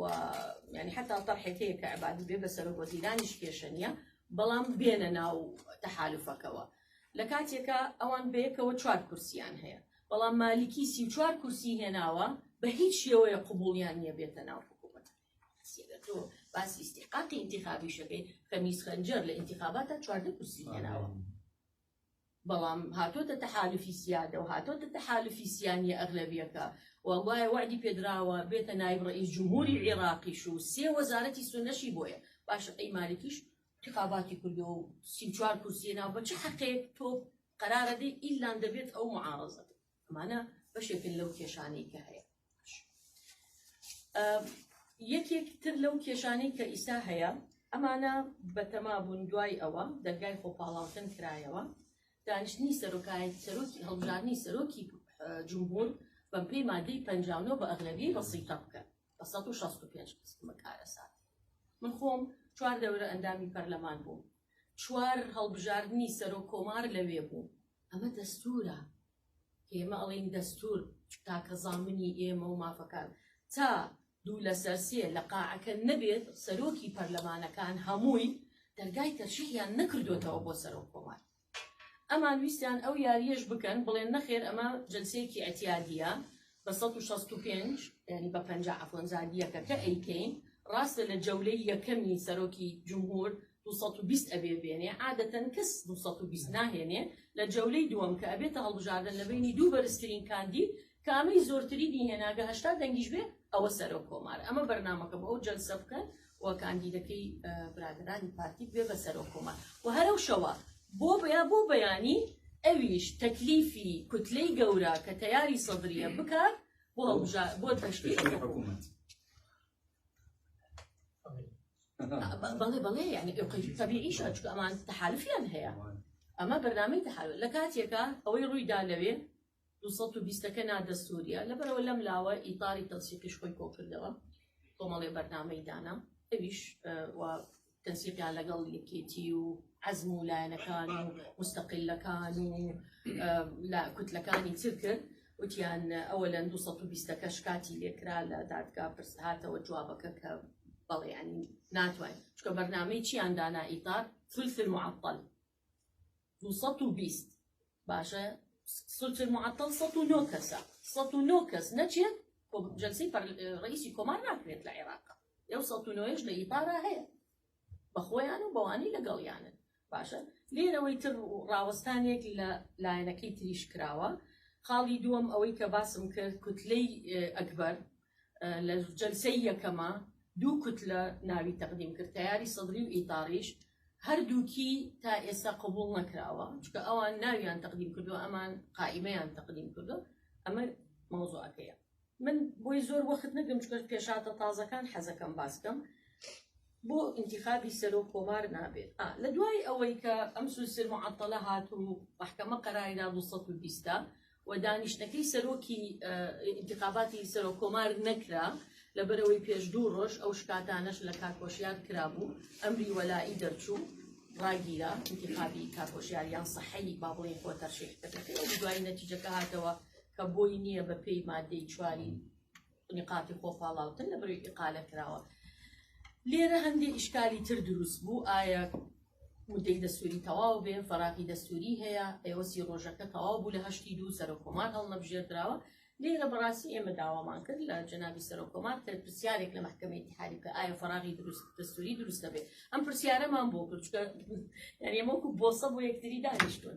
و یعنی حتا تەرحێک هەیە کە عبادی بێ بە سەرۆک وەزیرانیش کێشە نییە بەڵام بێنە ناو تەحالفەکەوە لە کاتێکە ئەوان بەیەکەوە چوار کورسیان هەیە بەڵام مالیکی سی چوار کورسی هێناوە بە هیچ شێوەیە قوبولیان نییە بێتە ناو حکوومەت تۆ باسی استحقاقی انتخابیشەکەی خەمیز خەنجەر لە انتخاباتە چواردە کورسی هێناوە بەڵام هاتۆتە تەحالوفی سیادە و هاتۆتە تەحالوفی سیانیە ئەغلەبیەکە و گوایە وەعدی پێدراوە بێتە نایب ڕەئیس جمهوری عیڕاقیش و سێ وەزارەتی سونەشی بۆیە باشە ئەی مالیکیش تقاباتی کردو و سی و چوار کورسیە ناو بە چ حەقێک تۆ قەرارەدەی ئیلان دەبێت ئەو معارەزەت ئەمانە بەشێکن لەو کێشانەی کە هەیە یەکێک تر لەو کێشانەی کە ئیسا هەیە ئەمانە بەتەما بوون دوای ئەوە دەرگای خۆپاڵاوتن کرایەوە دانیشتنی سەرۆکایەت سەرۆکی هەڵبژاردنی سەرۆکی جمهور بەم پێی مادەی پنجاونۆ بە ئەغلەبی بەسیتە بکەن بە 1965 قسمە کارەسات من خۆم چوار دەورە ئەندامی پەرلەمان بووم چوار هەڵبژاردننی سەرۆک کۆمار لەوێ بوو ئەمە دەستورە کە ئێمە ئەڵێین دەستور تاکە زامنی ئێمە و مافەکان تا دوو لەسەر سێ لە قاعەکە نەبێت سەرۆکی پەرلەمانەکان هەمووی دەرگای تەرشیحیان نەکردوێتەوە بۆ سەرۆک کۆمار ئەمان ویستیان ئەو یاریەش بکەن بڵێن نەخێر ئەمە جلسەیەکی ئەتیادیە بە سەد و شەست و پێنج یانی بە پەنجا عەفوەن جار یەکەکە ئەیکەین ڕاستە لە جەولەی یەکەمی سەرۆکی جمهور دو سەد و بیست ئەبێ بێنێ عادەتەن کەس دو سەد و بیست ناهێنێ لە جەولەی دووەم کە ئەبێتە هەڵبژاردن لە بەینی دوو بەرزترین کاندید کە ئەمەی زۆرترینی هێناگە هەشتا دەنگیش بێ ئەوە سەرۆک کۆمارە ئەمە بەرنامەکەم ئەو جەلسە بکەن و کاندیدەکەی برادەرانی پارتی بێ بە سەرۆک کۆمار و هەرەو شەوە بۆ بەیا بۆ بەیانی ئەویش تەکلیفی کوتلەی گەورە کە تەیاری سەدرە بکات بۆ هەڵبژار بۆ تشتی حکوومەت بەڵێ بەڵێ یعنی تەبیعیش چکە ئەمان تحالفیان هەیە ئەمە بەرنامەی تحال لە کاتێکە ئەوەی ڕوویدا لەوێ دوو سەد و بیست ەکە نادەستوورییە، لەبەرئەوە لەم لاوە ئیتاری تەنسیقیش خۆی کۆکردەوە، کۆمەڵێ بەرنامەی دانا، ئەویش و تەنسیقیان لەگەڵ یەکێتی و عەزم و لایەنەکان و موستەقیلەکان و کوتلەکانی تر کرد، وتیان ئەوە لەن دوو سەد و بیست ەکە شکاتی لێ کرا لە دادگا پرس هاتەوە جوابەکە کە بەڵێ یانی ناتوانین، چونکە بەرنامەی چییان دانا ئیتار، ثلث المعطل، دوو سەد و بیست باشە سلتر معطل سەد و نۆ کەسە سەد و نۆ کەس نەچێت جلسی ڕئیسی کۆمار ناکرێت لە عێراقا ئەو سەد و نۆیش لە ئیپارا هەیە بە خۆیان و بەوانی لەگەڵیانن باشە لێرەوەی تر ڕاوەستانێک لە لایەنەکەی تریش کراوە خاڵی دووەم ئەوەی کە باسم کرد کوتلەی ئەکبەر لە جەلسەی یەکەما دوو کوتلە ناوی تەقدیم کرد تەیاری سەدری و ئیتاڕیش هەردووکی تا ئێستا قبوڵ نەکراوە چکە ئەوان ناویان تەقدیم کردو ئەمان قائیمەیان تەقدیم کردو ئەمە مەوزوعەکەیە من بۆی زۆر وەخت نەگەم چکە پێشاتە تازەکان حەزەکەم باسکەم بۆ انتخابی سەرۆک کۆمار نابێت لە دوای ئەوەی کە ئەم سوسر معطلە هات و محکەمە قەراری دا 220 و دانیشتنەکەی سەرۆکی ئینتخاباتی سەرۆک کۆمار نەکرا لەبەرەوەی پێش دوو ڕۆژ ئەو شکاتانەش لە کاکۆشیار کرابوو ئەمری وەلائی دەرچوو ڕاگیرا ئینتخابی کاکۆشیاریان سەحەی با بڵێ خۆ تەرشیح کردەکەی دوای نەتیجەکە هاتەوە کە بۆی نییە بە پێی مادەی چواری نیقاتی خۆ پاڵاوتن لە بەروی ئقالە کراوە لێرە هەندی ئیشکالی تر دروست بوو ئایا مدەی دەستوری تەواو بێ فەراقی دەستوری هەیە ئێوەسی ڕۆژەکە تەواو بوو لە هەشتی دوو سەر کۆمان هەڵنەبژێردراوە لێرە بەڕاستی ئێمە داوامان کرد لە جنابی سەرۆکۆمان کە پرسیارێک لە محکمەی دیحاری کە ئایا فراغی دروست دەستوری دروست دەبێت ئەم پرسیارەمان بۆ کورچکە یاریمەکو بۆسە بۆ یەکتری دانیشتون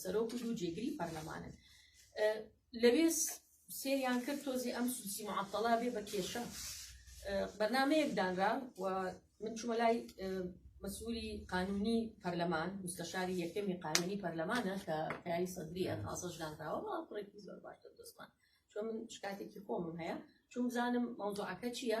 سەرۆک و دوو جێگری پەرلەمانن لەوێ سێریان کرد تۆزی ئەم سوسی معتەڵا بێ بە کێشە بەرنمەیەک دانرا و من چوومە لای مەسووری قانونی پەرلەمان مستەشاری یەکەمی قانونی پەرلەمانە کە پیاوی سەدریە تازەش دانراوە کوڕێکی زۆر باشتر دەستمان چۆن من شکاتێکی خۆمم هەیە چون بزانم مەوزوعەکە چییە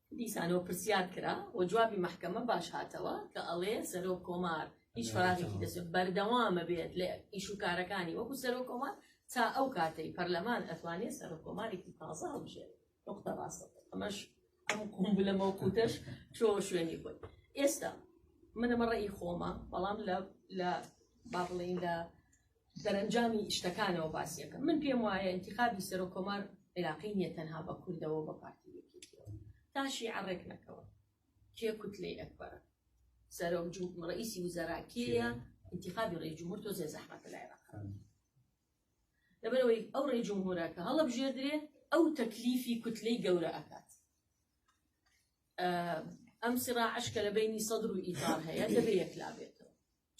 دیسانەوە پرسیار کرا و جوابی مەحکەمە باش هاتەوە کە ئەڵێ سەرۆک کۆمار هیچ فراغێکی دەست بەردەوامە بێت لە ئیش و کارەکانی وەکو سەرۆک کۆمار تا ئەو کاتەی پەرلەمان ئەتوانێت سەرۆک کۆمارێکی تازە هەڵبژێت نقطە ڕاستە ئەمەش ئەم قومبلە مەوقوتەش تۆ شوێنی خۆی ئێستا منەمە ڕێی خۆمە بەڵام لە لە با بڵێین لە دەرەنجامی شتەکانەوە باسیەکە من پێم وایە انتخابی سەرۆک کۆمار عێراقی نیە تەنها بە کوردەوە بە پارتی یەکێتیەوە تاشی عڕێک نەکەوە کێ کوتلەی ئەکبەرە سەرۆک ڕئیسی وزەرا کێە انتخابی ڕێ جمهور تۆ زێ زەحمەتە لە عێراق لەبەرەوەی ئەو ڕێ جمهورە کە هەڵە بژێدرێ ئەو تەکلیفی کوتلەی گەورە ئەکات ئەم سراعشکە لە بینی سەدر و ئیتار هەیە دەبێ یەکلا بێتەوە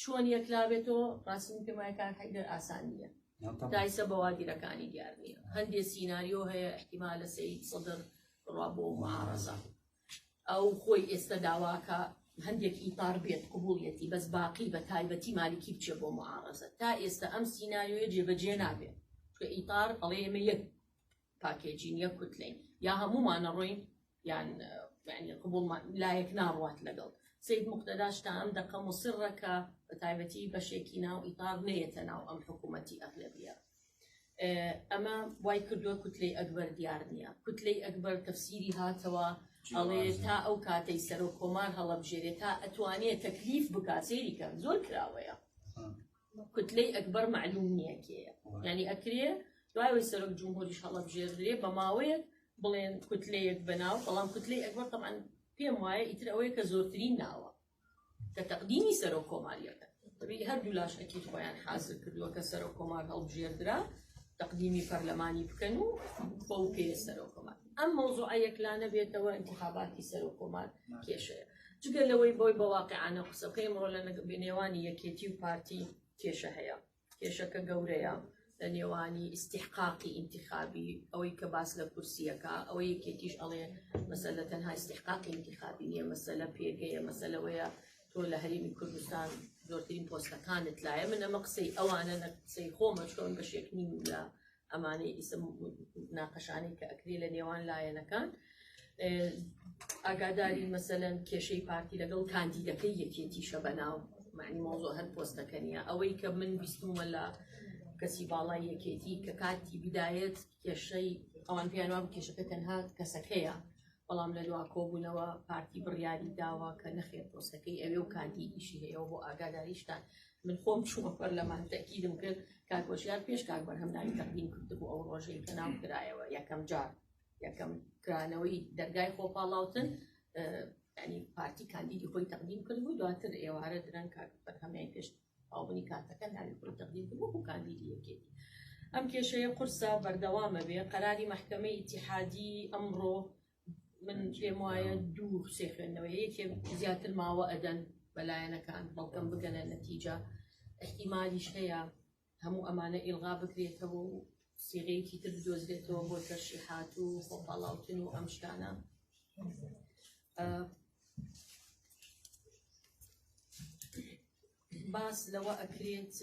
چۆن یەکلابێتەوە ڕاستم پێم وایە کار حەیدەر ئاسان نییە دایسە بەوادیرەکانی دیار نییە هەندێ سیناریۆ هەیە احتیما لە سید سەدر ڕوا بۆ معارەزە ئەو خۆی ئێستا داواکە هەندێک ئیتار بێت قوبوڵیەتی بەس باقی بە تایبەتی مالیکی بچێ بۆ معارەزە تا ئێستا ئەم سیناریۆیە جێبەجێ نابێت کە ئیتار ئەڵێ ئێمە یەک پاکێجین یەک کوتلین یا هەمومانە ڕۆین یان یعنی قبوڵمان لایەک ناڕوات لەگەڵ سید مقتەداش تا ئەم دەقە مصرە کە بە تایبەتی بەشێکی ناو ئیتاڕ نەیەتە ناو ئەم حکوومەتی ئەغلبیە ئەمە وای کردووە کوتلەی ئەکبەر دیار نییە کوتلەی ئەکبەر تەفسیری هاتەوە ئەڵێ تا ئەو کاتەی سەرۆک کۆمار هەڵەبژێرێ تا ئەتوانێت تەکلیف بکات سێریکە زۆر کراوەیە کوتلەی ئەکبەر مەعلوم نییە کێیە یعنی ئەکرێ دوای سەرۆک جمهوریش هەڵەبژێردرێ بە ماوەیەک بڵێن کوتلەیەک بەناو بەڵام کوتلەی ئەکبەر تەمان پێم وایە ئیتر ئەوەیە کە زۆرترین ناوە کە تەقدیمی سەرۆک کۆماریەکە هەردوو لاش ئەکیت خۆیان حازر کردووە کە سەرۆک کۆمار هەڵبژێردرا تقدیمی پەرلەمانی بکەن و بەو پێ سەرۆکۆمار ئەم مەوزوعە یەکلانە بێتەوە انتخاباتی سەرۆکۆمار کێشەیە جگە لەوەی بۆی بە واقعانە قسەکەی ئەمڕۆ لە نێوانی یەکێتی و پارتی کێشە هەیە کێشەکە گەورەیە لە نێوانی ئیسیحقاقی ئینتخابی ئەوەی کە باس لە کورسیەکە ئەوە یەکێتیش ئەڵێ مەسە لە تەنها ئیسیحقاقی ئینتخابی نیە مەسە لە پێگەیە مەسە لەوەیە تۆ لە هەرمی کوردستان زۆرترین پۆستەکانت لایە من ئەمە قسەی ئەوانە نە قسەی خۆمەشکەون بە شێکنی لە ئەمانەی ئیسە ناقەشانی کە ئەکری لە نێوان لایەنەکان ئاگاداری مەسەەن کێشەی پارتی لەگەڵ کاندیدەکەی یەکێتیشە بەناو معنی مۆزۆ هەر پۆستەکە نیە ئەوەی کە من بیستمە لە کەسی باڵای یەکێتی کە کاتی بدایەت کێشەی ئەوان پێیانوا کێشەکە تەنها کەسەکەیە بەڵام لە دوا کۆبوونەوە پارتی بڕیاری داوە کە نەخێت پۆستەکەی ئەوێ و کاندیدیشی هەیە بۆ ئاگاداریشتان من خۆم چوومە پەرلەمان تەکیدم کرد کاک هۆشیار پێش کاک بەرهەم ناوی تەقدیم کردبوو ئەو ڕۆژەی کە ناو کرایەوە یەکەم جار یەکەم کرانەوەی دەرگای خۆپاڵاوتن ینی پارتی کاندیدی خۆی تەقدیم کردبوو دواتر ئێوارە درەن کاک بەرهەمیان پێش ئەوبنی کاتەکە ناوی خۆی تەقدیم کردبوو بۆ کاندیدی یەکێتی ئەم کێشەیە قورسە بەردەوامە بێ قەراری محکمە ئیتیحادی ئەمڕۆ من پێم وایە دوو سێ خوێندنەوە یەکێ زیاتر ماوە ئەدەن بەلایەنەکان بەڵکەم بگەنە نەتیجە احتیمالیش هەیە هەموو ئەمانە ئیلغا بکرێتەوە و سیغەیەکی تر بدۆزرێتەوە بۆ تەرشیحات و خۆپاڵاوتن و ئەم شتانە باس لەوە ئەکرێت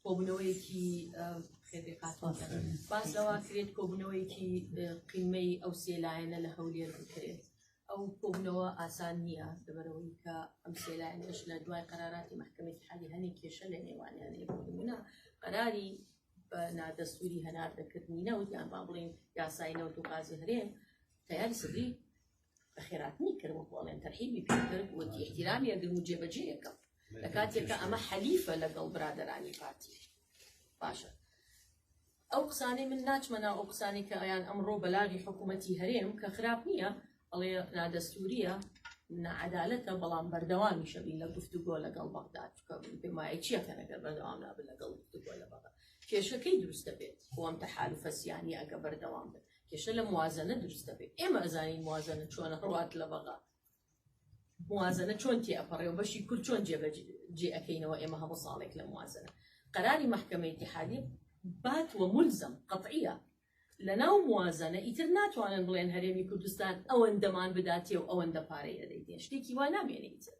کۆبوونەوەیەکی خێبی قاتۆن باس لەوە کرێت کۆبوونەوەیەکی قیمەی ئەو سێلایەنە لە هەولێر بکرێت ئەو کۆبنەوە ئاسان نییە لەبەرەوەی کە ئەم سێلایەنش لە دوای قەراراتی محکمەی حالی هەنێک کێشە لە نێوانیان لێبوونا قەراری بە نادەستوری هەناردەکردنی نەوت یان با بڵین یاسای نەوت و قازی هەرێم تیاری سری خێراتنی کرد وەکو ئەڵێن تەرحیبی پێکرد وتی احترامی ئەگرم و جێبەجێیەکەم لە کاتێکە ئەمە حەلیفە لەگەڵ برادرانی پارتی باشە ئەو قسانی من ناچمە ناو ئەو قسانی کە ئەیان ئەمڕۆ بەلاغی حکوومەتتی هەرێم کە خراپ نییە ئەڵێ نادەستوریە نعدالەتە بەڵام بەردەوامی شەبی لە گفتوگۆ لەگەڵ بەغداد پێمایە چیە کە نەگەر بەردەوام نابن لەگەڵ گفتوگۆ لە بەغداد کێشەکەی دروستە بێت خۆم تە حال و فەسیانی ئەگە بەردەوام بێت کێشە لە موازنە دروست دەبێت ئێمە ئەزانین موازنە چۆنە هەڵات لە بەغا موازنە چۆن تێ ئەپەڕێ و بەشی کورد چۆن جێبەج جێ ئەەکەینەوە ئێمە هەموو ساڵێک لە موازنە قەراری محکمە اتحادی بات وە ملزم قطعیە لە ناو موازنە ئیتر ناتوانن بڵێن هەرێمی کوردستان ئەوەندەمان بداتێ و ئەوەندە پارەی ئەدەیتێ شتێکی وا نامێنێتە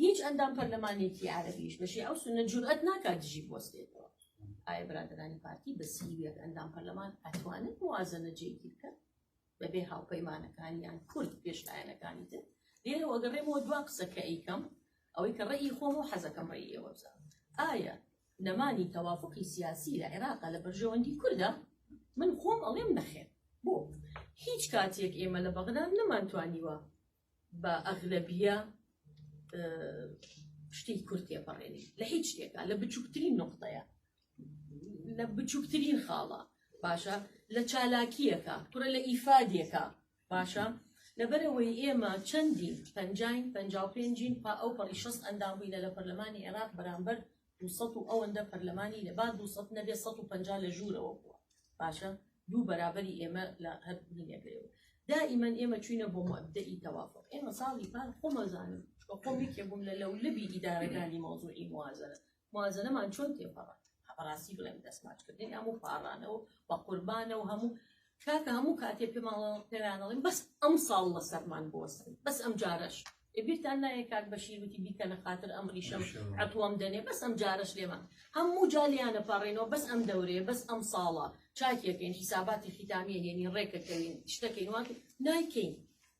هیچ ئەندام پەرلەمانێکی عربیش بەشی ئەو سنە جورئەت ناکات دژی بۆستێتەوە ئایا برادرانی پارتی بەسیوێک ئەندام پەرلەمان ئەتوانن موازنە جێگیر بکەن بەبێ هاوپەیمانەکانیان کورد پێش لایەنەکانی تر لێرەوە گەڕێمەوە دوا قسە کە ئەیکەم ئەوەی کە ڕێی خۆم و حەزەکەم ڕێی ئێوە بزان ئایا نەمانی تەوافقی سیاسی لە عێراقا لە بەرژەوەندی کوردە من خۆم ئەڵێم نەخێن بۆ هیچ کاتێک ئێمە لە بەغدا نەمانتوانیوە بە ئەغلەبیە شتی کورد تێپەڕێنی لە هیچ شتێکە لە بچووکترین نقطەیە لە بچووکترین خاڵە باشە لە چالاکیەکە کوڕە لە ئیفادیەکە باشە لەبەرەوەی ئێمە چەندین پنجین پ پێنجین پا ئەو پەڕی شەست ئەندام بووینە لە پەرلەمانی عێراق بەرامبەر دوو سەد و ئەوەندە پەرلەمانی لە با دوو سەد نەبێ سەد و پەنجا لە ژوورەوە بووە باشە دوو بەرابەری ئێمە لە هەر بینەکەیەوە دائیمەن ئێمە چوینە بۆ مەبدەئی تەوافق ئێمە ساڵی پار خۆمەزانم بە خۆم یەکێ بووم لە لەو لەبی ئیدارەکانی مەوزوعی موازنە موازنەمان چۆن تێپەڕات بەڕاستی بڵێم دەستماچکردنی هەموو پاڕانەوە بە قوربانە و هەموو کاکە هەموو کاتێ پێماڵە پێرانەڵین بەس ئەم ساڵ لە سەرمان بۆسن بەس ئەم جارەش ئبیرتان نایە کاک بەشیروتی بیکە لە خاتر ئەم ڕیشەم عتووەم دەنێ بەس ئەم جارەش لێمان هەموو جالیانە پاڕێنەوە بەس ئەم دەورەیە بەس ئەم ساڵە چاکیەکەین حیساباتی خیتامیە هێنی ڕێکەکەوین شتەکەین وان نایکەین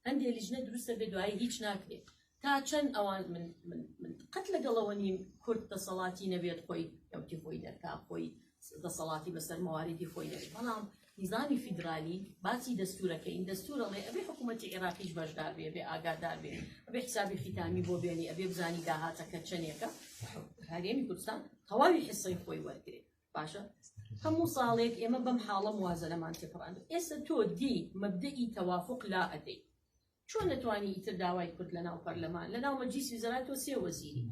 هەندێک لیژنە دروستە بێ دوایی هیچ ناکرێت تا چەند ئەوان من من من قەت لەگەڵەوە نیم کورد دەسەڵاتی نەبێت خۆی ئەوتی خۆی دەرکا خۆی دەسەڵاتی بەسەر مەواریدی خۆی دەبێت بەڵام نظامی فیدرالی باسی دەستورەکەین دەستورەڵێ ئەبێ حکوومەتی عێراقیش بەشدار بێ بێ ئاگادار بێ ئەبێ حسابی خیتامی بۆ بێنی ئەبێ بزانی داهاتەکە چەندێکە هەرێمی کوردستان تەواوی حسەی خۆی وەرگێ باشە هەموو ساڵێک ئێمە بەم حاڵە موازەلەمان تێپڕاند ئێستا تۆ دی مەبدەئی تەوافق لا ئەدەی چۆن ئەتوانی ئیتر داوای کورد لە ناو پەرلەمان لە ناو مەجلیسی وزەرا تۆ سێ وەزیری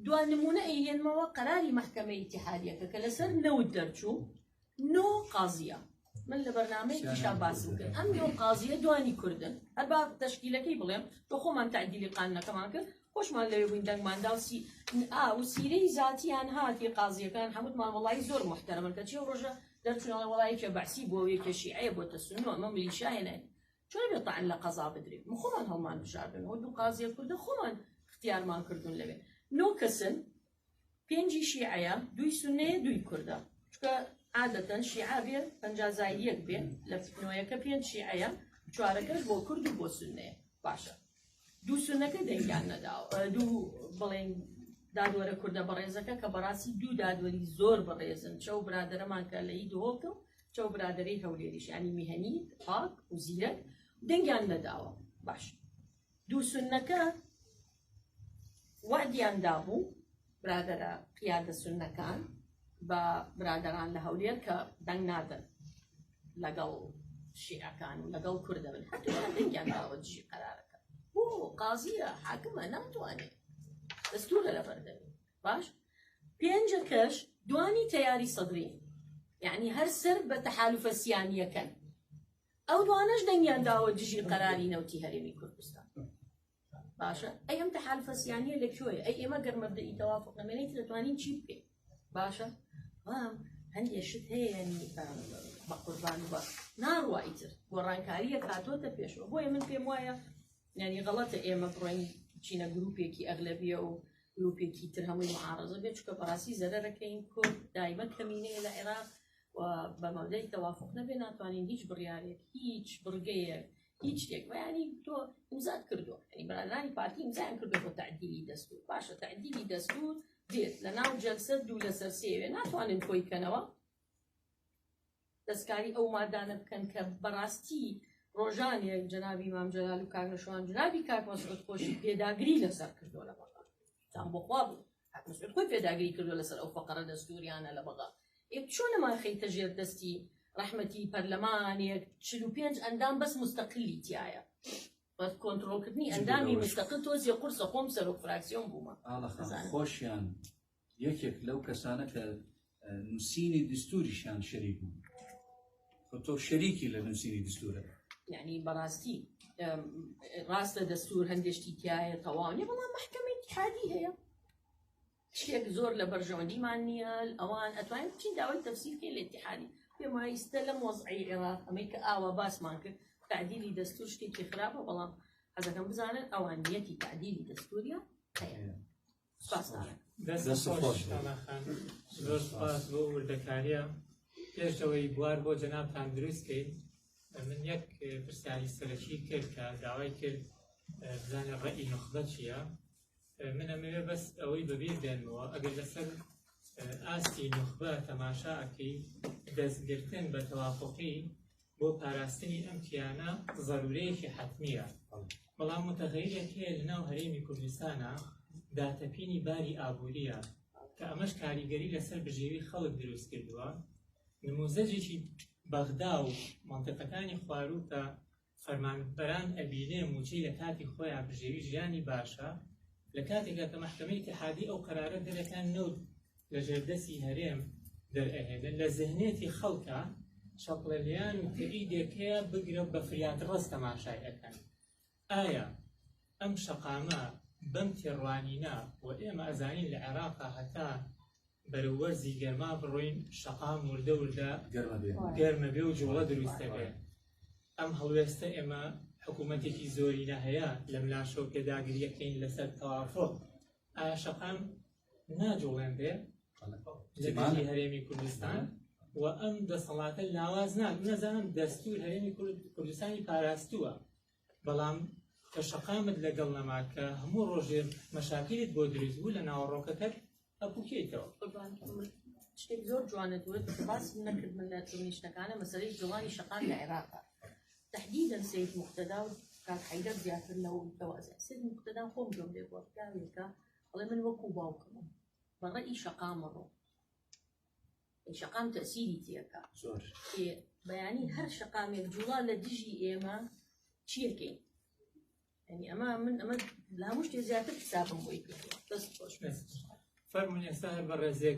دوا نمونە ئەیهێنمەوە قەراری مەحکەمە ئیتیحادیەکە کە لەسەر نەوت دەرچوو نۆ قازیە من لە بەرنمەیەکیشا باسم کرد ئەم نۆ قازیە دوانی کوردن هەر با تەشکیلەکەی بڵێم بە خۆمان تعدیلی قانەکەمان کرد خۆشمان لەوێ بووین دەنگمانداوسی ئا و سیرەی زاتیان هاتی قازیەکان هەمووت مامەڵی زۆر محتەرمن کە چی ڕۆژە دەرچوونەوە وڵایەکە بەعسی بۆ وێکەشی ئەیە بۆ تەسونەوە مە ملیشایەنێت چۆنە تەعن لە قەزا بدرێ مە خۆمان هەڵمان بژاردن ئەو دوو قازیە کوردە خۆمان اختیارمان کردون لەوێ نۆ کەسن پێنجی شیعەیە دووی سنەیە دووی کوردە چکە عادەتەن شیعە بێ پەنجازای یەک بێ لە نۆیەکە پێنج شیعەیە چوارەکەش بۆ کورد و بۆ سنەیە باشە دوو سونەکە دەنگیان نەداوە دوو بڵێن دادوەرە کوردە بەڕێزەکە کە بەڕاستی دوو دادوەری زۆر بەڕێزن چەو برادەرەمان کە لەی دهۆڵکە و چەو برادری هەولێریشانی میهنی پاک و زیرەک دەنگیان نەداوە باش دوو سنەکە وادیان دابوو برادەرە قیادە سوننەکان بە برادەران لە هەولێر کە دەنگ نادەن لەگەڵ شیعەکان و لەگەڵ کوردە بن هەردوویان دەنگیان داوە دژی قەرارەکە بۆ قازیە حاکمە ناتوانێت دەستورە لەبەردەوی باش پێنجە کەش دوانی تەیاری سەدری یعنی هەر سەر بە تەحالفە سیانیەکەن ئەو دوانەش دەنگیان داوە دژی قەراری نەوتی هەرێمی کوردستان باشە ئەی ئەم تەحالفەسیانە لە کوێ ئەی ئێمە گەر مەبدەئی تەوافق نەمێنێت دەتوانین چی بکەین باشە وام هەندێ شت هەیە ینی بە قوربان بە ناڕوا ئیتر گۆڕانکاریە کاتۆتە پێشەوە بۆیە من پێم وایە ینی غەڵەتە ئێمە بڕۆین چینە گروپێکی ئەغلەبیە و گروپێکی تر هەمووی معارزە بێت چکە بەڕاستی زەرەکەین کورد دایمە کەمینەیە لە عێراق و بە مەودەی تەوافق نەبێ ناتوانین هیچ بڕارێک هیچ بڕگەیەک هیچ شتێک بەیانی تۆ ئیمزات کردو ئەی بەرانانی پارتی ئیمزان کردو بۆ تعدیلی دەستور باشە تعدیلی دەستور دێت لە ناو جەلسە دوو لەسەر سێوێ ناتوانن کۆی کەنەوە دەستکاری ئەو مادانە بکەن کە بەڕاستی ڕۆژانێ جنابی مام جلال و کاگەشوان جنابی کاک مەسعود خۆشی پێداگری لەسەر کردو لە بەڵام تان بۆخوا بوو ئەتمۆسفێر خۆی پێداگری کردوە لەسەر ئەو فەقەرە دەستوریانە لە بەغا ئێ چۆن نەمان خەیتە ژێر دەستی ڕەحمەتی پەرلەمانێک چل و پێنج ئەندام بەس مستەقلی تایە بە کۆنتترۆلکردنی ئەندامی مستەقل تۆزیە قورسە خۆم سەرۆک فراکسیۆن بوومە خۆشیان یەکێک لەو کەسانە کە نووسینی دستوریشان شەریک بوو تۆ شەریکی لە نووسینی دستورە یعنی بەڕاستی ڕاستە دەستور هەندێشتی تایە تەواوی بەڵام محکمەی حادی هەیە شتێک زۆر لە بەرژەوەندیمان نییە ئەوان ئەتوانین بچین داوای تەفسیرکە لە اتحادی پێمایستە لەم وەزعی عێراق ئەمەی کە ئاوا باسمان کرد تعدیلی دەستور شتێکی خراپە بەڵام حەزەکەم بزانن ئەوان نیەتی تعدیلی دەستوریە هەیە دەست خۆش کاماخان زۆر سپاس بۆ وردەکاریە پێشەوەی بوار بۆ جەنابتان دروستکەین من یەک پرسیاری سەرەکی کرد کە داوای کرد بزانە ڕێی نخبە چییە من ئەمەوێ بەس ئەوەی بەبیر دێنەوە ئەگەر لەسەر ئاستی نخبە تەماشا ئەکەی دەستگرتن بە تەواققی بۆ پاراستنی ئەم کیانە زەرورەیەکی حەتمیە بەڵام متەغەیرێک هەیە لەناو هەرێمی کوردستانە داتەپینی باری ئابووریە کە ئەمەش کاریگەری لەسەر بژێوی خەڵک دروست کردووە نموزەجێکی بەغدا و منطقەکانی خواروو کە فەرمانبەران ئەبینێ موچەی لە کاتی خۆیان بژێوی ژیانی باشە لە کاتێکا کە محکمەی تحادی ئەو قرارە دەرەکان نەوت لە ژێردەسی هەرێم دەرئەهێنن لە زهنێتی خەڵکە چەپڵەلیان و تری دێکەیە بگرە بە فریاد ڕست تەماشای ئەەکەن ئایا ئەم شەقامە بەم تێڕوانینە و ئێمە ئەزانین لە عێراقا هەتا بەرەوەرزی گەرما بڕۆین شەقام وردە وردە گەرمە بێ و جوڵە دروستە بێ ئەم هەڵوێستە ئێمە حکوومەتێکی زۆرینە هەیە لەم لاشەو پێداگریەکەین لەسەر تەوافۆ ئایا شەقام ناجوڵێنرێ لە دژی هەرێمی کوردستان و ئەم دەسەڵاتە لاواز نان نەزانم دەستور هەرێمی کوردستانی پاراستووە بەڵام کە شەقامت لەگەڵ نەما کە هەموو ڕۆژێ مەشاکیت بۆ دروست بوو لە ناوەڕۆکەکەت ئەپوکێتەوە شتێک زۆر جوانە دوێت باس نەکرد من لە تونیشتەکانە مەسەری جوانی شەقام لە عێراقە تحديدا سيد مقتدى و کاک حەیدەر زیاتر لەوە متەوازە سید مقتدان خۆم گەم لێ بۆ پیاوێکە ئەڵێ من وەکو باوکمم بە ڕێ ئی شەقامە ڕۆ ئی شەقام تەسیری تێکە زۆر بەیانی هەر شەقامێک جوڵا لە دژی ئێمە چیەکەین ینی ئەمە من ئەمە لە هەموو شتێ زیاتر حسابم بۆی کردوە دەست خۆش فەرمونی ئێستا هەر بە ڕێزێک